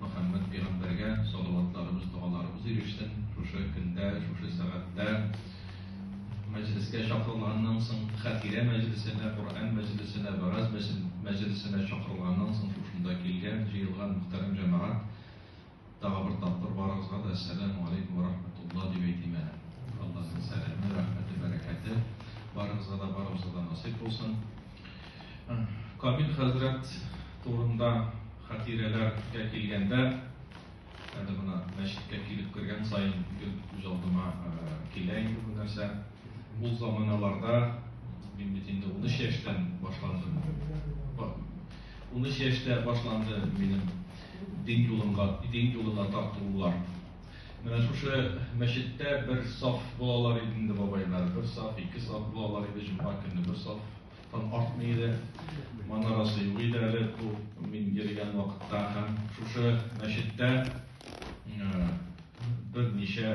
Мөхәммәд пәйгамбәргә салаватларыбыз, догаларыбыз ирешсен. Шушы көндә, шушы сәгатьтә мәҗлескә чакырылганнан соң, хәтирә мәҗлесенә, Коръән мәҗлесенә, вәгазь мәҗлесенә чакырылганнан соң шушында килгән, җыелган мөхтәрәм җәмәгать, тагы бер тапкыр барыгызга да Әссәламү алейкүм вә рахмәтулла дип әйтим әле. Аллаһның сәламе, рәхмәте, бәрәкәте барыгызга да, барыбызга да насыйп булсын. Камил хәзрәт турында хатирәләргә килгәндә, әле менә мәчеткә килеп кергән саен гел күз алдыма килә инде бу нәрсә. Ул заманаларда, мин бит инде унөч яшьтән башландым, унөч яшьтә башланды минем дин юлымга, дин юлына тартылулар. Менә шушы мәчеттә бер саф булалар иде инде бабайлар. Бер саф, ике саф булалар иде, җомга көнне бер сафтан артмый иде. Манарасы юк иде әле бу мин йөргән вакытта һәм шушы мәчеттә берничә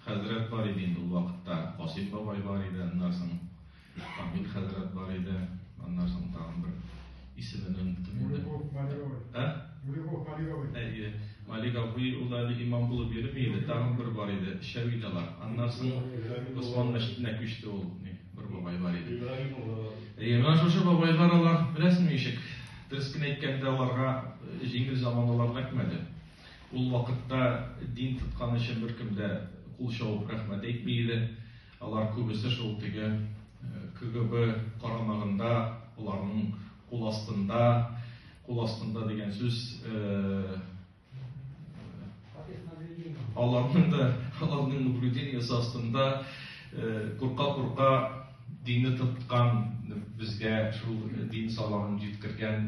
хәзрәт бар иде инде ул вакытта. Касыйм бабай бар иде, аннан соң Мөхәммит хәзрәт бар иде, аннан соң тагын бер исемен оныттым инде. Улюков Малиговый. Ә? Улюков Малиговый. Әйе. Малиговый ул әле имам булып йөрми иде, тагын бер бар иде, Шәвидалар. Аннан соң Госман мәчетенә күчте ул, бер бабай бар иде. Әйе, менә шушы бабайлар алар, беләсеңме ишек? Дөрес кенә әйткәндә, аларга җиңел заман алар рәхмәде. Ул вакытта дин тоткан өчен беркем дә кул чабып рәхмәт әйтми иде. Алар күбесе шул теге КГБ карамагында, аларның кул астында, кул астында дигән сүз аларның да аларның наблюдениесе астында курка-курка динне тоткан, безгә шул дин саламын җиткергән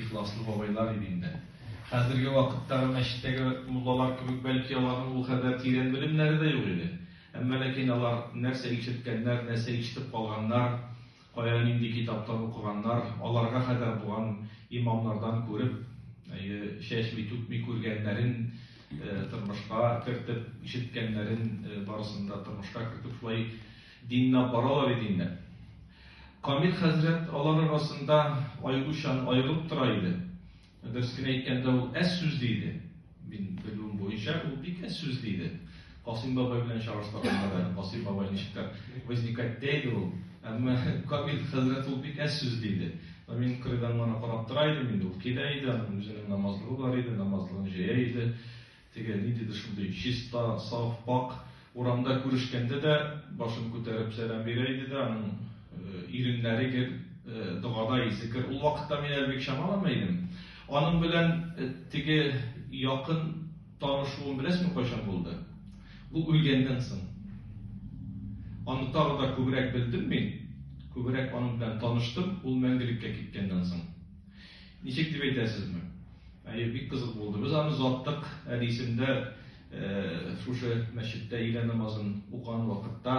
ихласлы бабайлар иде инде. Хәзерге вакыттагы мәчеттәге муллалар кебек, бәлки аларның ул кадәр тирән белемнәре дә юк иде. Әмма ләкин алар нәрсә ишеткәннәр, нәрсә ишетеп калганнар, кая нинди китаптан укыганнар, аларга кадәр булган имамнардан күреп, чәчми, түкми күргәннәрен тормышка кертеп, ишеткәннәрен барысын да тормышка кертеп шулай динләп баралар иде инде. Камил хәзрәт алар арасында аеручан аерылып тора иде. Дөрес кенә әйткәндә, ул әз сүзле иде. Мин белүем буенча, ул бик әз сүзле иде. Касыйм бабай белән чагыштырганда да, Касыйм бабай ничектер возникать тә иде ул. Әмма Камил хәзрәт ул бик әз сүзле иде. Ә мин кырыйдан гына карап тора идем, инде ул килә иде, аның үзенең намазлыгы бар иде, намазлыгын җәя иде. Теге ниндидер шундый чиста, саф, пакь, урамда күрешкәндә дә башын күтәреп сәлам бирә иде дә, аның иреннәре гел догада, изекер. Ул вакытта мин әле бик чамалама идем. Аның белән теге якын танышуым беләсеңме кайчан булды? Ул үлгәннән соң. Аны тагы да күбрәк белдем мин, күбрәк аның белән таныштым, ул мәңгелеккә киткәннән соң. Ничек дип әйтәсезме? Әйе, бик кызык булды. Без аны озаттык. Әнисен дә шушы мәчеттә өйлә намазын укыган вакытта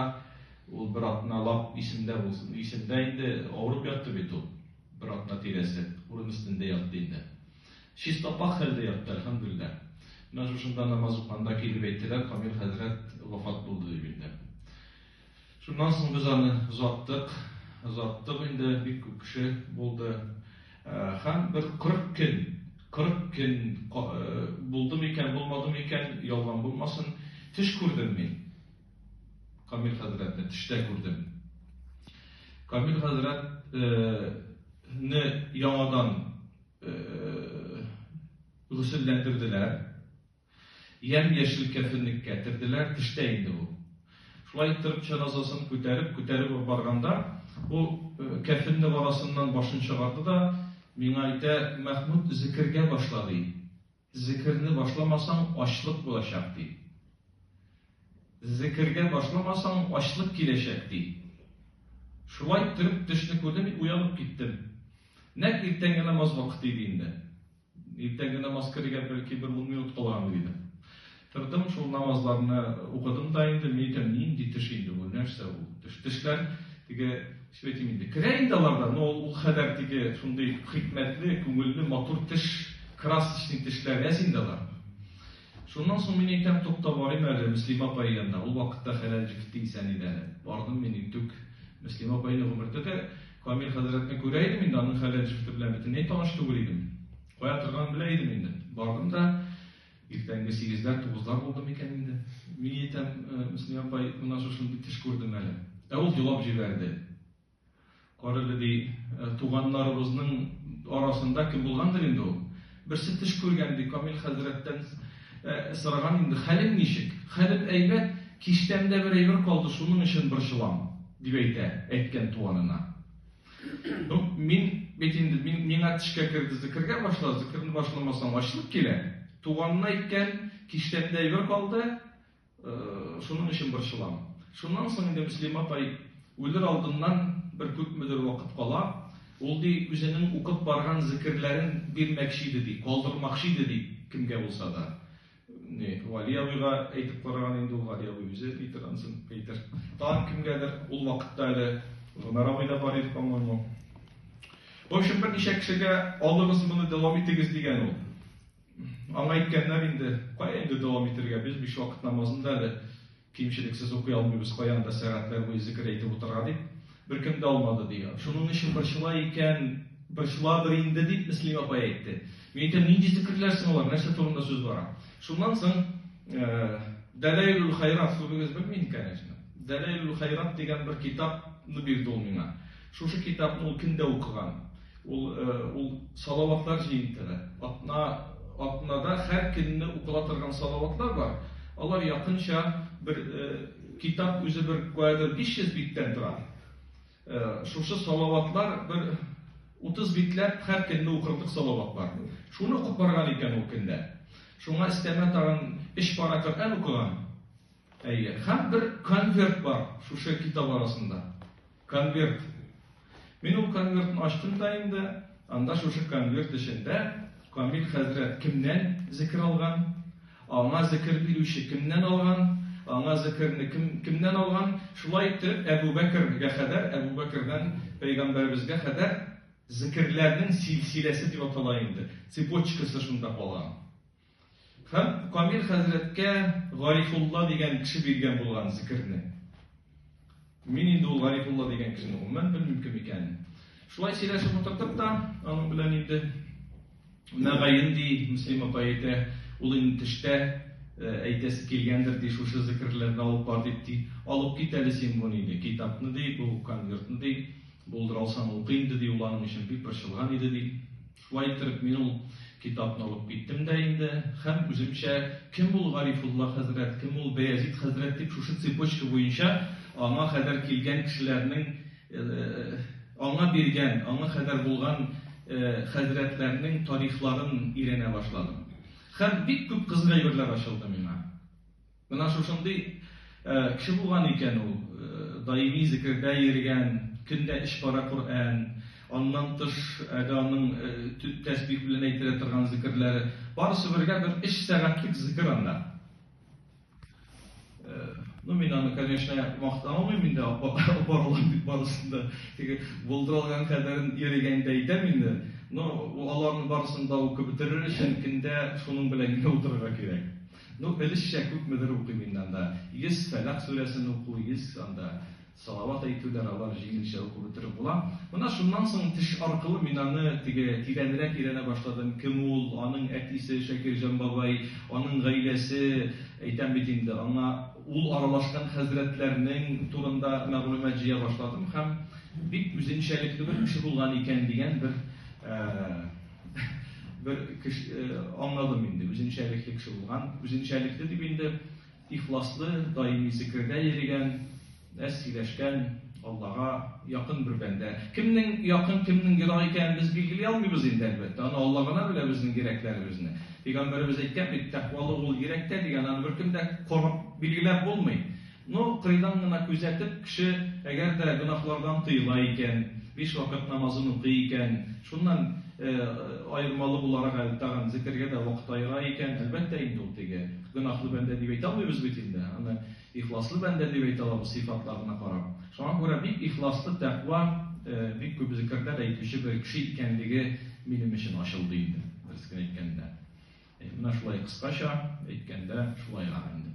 ул бер атналап исемдә булсын. Исемдә инде авырып ятты бит ул. Бер атна тирәсе урын өстендә ятты инде. Чист апак хәлдә ятты, әлхәмдүлилләһ. Менә шушында намаз укыганда килеп әйттеләр, Камил хәзрәт вафат булды дип инде. Шуннан соң без аны озаттык, озаттык инде, бик күп кеше булды. Һәм бер 40 көн, 40 көн булды микән, булмады микән, ялган булмасын, төш күрдем мин. Камил хәзрәтне төштә күрдем. Камил хәзрәт не яңадан гөселләндерделәр. Ямь-яшел кәфенлеккә терделәр, төштә инде ул. Шулай иттереп җеназасын күтәреп, күтәреп үк барганда, ул кәфенлек арасыннан башын чыгарды да, миңа әйтә, Мәхмүт, зекергә башла, ди. Зекерне башламасаң, ачлык булачак, ди. Зекергә башламасаң, ачлык киләчәк, ди. Шулай иттереп төшне күрдем, мин уянып киттем. Нәкъ иртәнге намаз вакыты иде инде. Иртәнге намазка дигән бәлки бер ун минут калгандыр иде. Тордым, шул намазларны укыдым да инде, мин әйтәм, нинди теш инде бу, нәрсә бу? Теш, тешләр теге сөйтим инде. Керә инде аларда, но ул хәдәр теге шундый хикмәтле, күңелле, матур теш, красочный тешләр, әз инде алар. Шуннан соң мин әйтәм, тукта, барыйм әле Мөслимә апай янына. Ул вакытта хәләл җефете исән иде әле. Бардым мин, интүк, Мөслимә апай инде гомер көтә. Камил хәзрәтне күрә идем инде, аның хәләл җефете белән бөтенләй таныш түгел идем. Кая торганын белә идем инде. Бардым да, иртәнге сигезләр, тугызлар булды микән инде. Мин әйтәм, Мөслимә апай, менә шушындый төш күрдем әле. Ә ул елап җибәрде. Карале, ди, туганнарыбызның арасында кем булгандыр инде ул? Берсе төш күргән, ди, Камил хәзрәттән сораган инде, хәлең ничек? Хәлем әйбәт, кичтән дә бер әйбер калды, шуның өчен борчылам, дип әйтә, әйткән туганына. Ну, мин бит инде, мин, миңа төшкә керде, зекергә башла, зекерне башламасаң ачлык килә. Туганына әйткән, кичтән дә әйбер калды, Шуның өчен борчылам. Шуннан соң инде Мөслим апай үлер алдыннан бер күпмедер вакыт кала, ул ди үзенең укып барган зекерләрен бирмәкче иде ди, калдырмакчы иде ди кемгә булса да. Ни, Вали абыйга әйтеп караган инде ул, Вали абый үзе әйтер ансын, әйтер. Тагын кемгәдер ул вакытта әле Гомәр абый да бар иде, по-моему. В общем, берничә кешегә алыгыз моны, дәвам итегез дигән ул. Аңа әйткәннәр инде, кая инде дәвам итергә, без биш вакыт намазын да әле кимчелексез укый алмыйбыз, кая анда сәгатьләр буе зикер әйтеп утырырга, дип, беркем дә алмады, ди. Шуның өчен борчыла икән, борчылабыр инде, дип, Мөслимә апай әйтте. Мин әйтәм, нинди зикерләр соң алар, нәрсә турында сүз бара? Шуннан соң Дәләйлүл хайрат, күбегез белми инде, конечно. Дәләйлүл хайрат дигән бер китапны бирде ул миңа. Шушы китапны ул кемдә укыган? Ул ул салаватлар җыентыгы. Атна атнада һәр көнне укыла торган салаватлар бар. Алар якынча бер китап үзе бер куәдер 500 биттән тора. Шушы салаватлар бер 30 битләп һәр көнне укырдык салаватлар. Шуны укып барган икән ул көндә. Шуңа истәмә тагын эш пара Коръән укыган. Әйе, һәм бер конверт бар шушы китап арасында. Конверт. Мин ул конвертны ачтым да инде, анда шушы конверт эчендә Камил хәзрәт кемнән зикер алган, аңа зикер бирүче кемнән алган, аңа зикерне кем, кемнән алган, шулай итеп Әбу Бәкергә хәдәр, Әбу Бәкердән пәйгамбәребезгә хәдәр зикерләрнең силсиләсе дип атала инде, цепочкасы шунда калган. Һәм Камил хәзрәткә Гарифулла дигән кеше биргән булган зикерне. Мин инде ул Гарифулла дигән кешене гомумән белмим кем икәнен. Шулай сөйләшеп утырдык та, аның белән инде мәгаен ди Муслим апа әйтә, ул инде төштә э, әйтәсе килгәндер ди, шушы зикерләрне алып бар дип ди, алып кит әле син моны ди, китапны ди, бу конвертны ди, булдыра алсаң укы инде ди, ул аның өчен бик борчылган иде ди. Шулай итеп, мин ул китапны алып киттем дә инде һәм үземчә кем ул Гарифулла хәзрәт, кем ул Бәязит хәзрәт дип шушы цепочка буенча аңа кадәр килгән кешеләрнең, аңа биргән, аңа кадәр булган хәзрәтләрнең тарихларын өйрәнә башладым. Һәм бик күп кызык әйберләр ачылды миңа. Менә шушындый кеше булган икән ул, даими зекердә йөргән, көн дә өч пара Коръән, аннан тыш әле аның төп тәсбих белән әйтелә торган зекерләре, барысы бергә бер өч сәгатьлек зекер анда. Ну, мин аны, конечно, мактан алмыйм инде, апаралар бит барысын да. Теге булдыра алган кадәрен йөрегәндә әйтәм инде. Но аларның барысын да укып бетерер өчен көндә шуның белән генә утырырга кирәк. Ну, элешчә күпмедер укыйм инде анда. Йөз Фәләкъ сүрәсен уку, йөз анда салават әйтүләр, алар җиңелчә укып бетереп була. Менә шуннан соң теш аркылы мин аны теге тирәнрәк өйрәнә башладым, кем ул, аның әтисе Шакирҗан бабай, аның гаиләсе, әйтәм бит инде, аңа ул аралашкан хәзрәтләрнең турында мәгълүмат җыя башладым һәм бик үзенчәлекле бер кеше булган икән дигән бер бер кеше э, аңладым инде, үзенчәлекле кеше булган. Үзенчәлекле дип инде ихласлы, даими зикердә йөргән, әз сөйләшкән, Аллага якын бер бәндә. Кемнең якын, кемнең ерак икәнен без билгели алмыйбыз инде әлбәттә. Аны Алла гына белә безнең йөрәкләребезне. Пәйгамбәребез әйткән бит, тәкъвалы ул йөрәктә дигән, аны беркем дә карап билгеләп булмый. Ну, кыйдан гына күзәтеп, кеше әгәр дә гөнаһлардан тыела икән, биш вакыт намазын укый икән, шуннан аермалы буларак әле тагын зекергә дә вакыт аера икән, әлбәттә инде ул теге гөнаһлы бәндә дип әйтә алмыйбыз бит инде, аны ихласлы бәндә дип әйтә алабыз сыйфатларына карап. Шуңа күрә бик ихласлы, тәкъва, бик күп зекерләр әйтүче бер кеше икәнлеге минем өчен ачылды инде, дөресен әйткәндә. Менә шулай кыскача әйткәндә шулай гамәлле.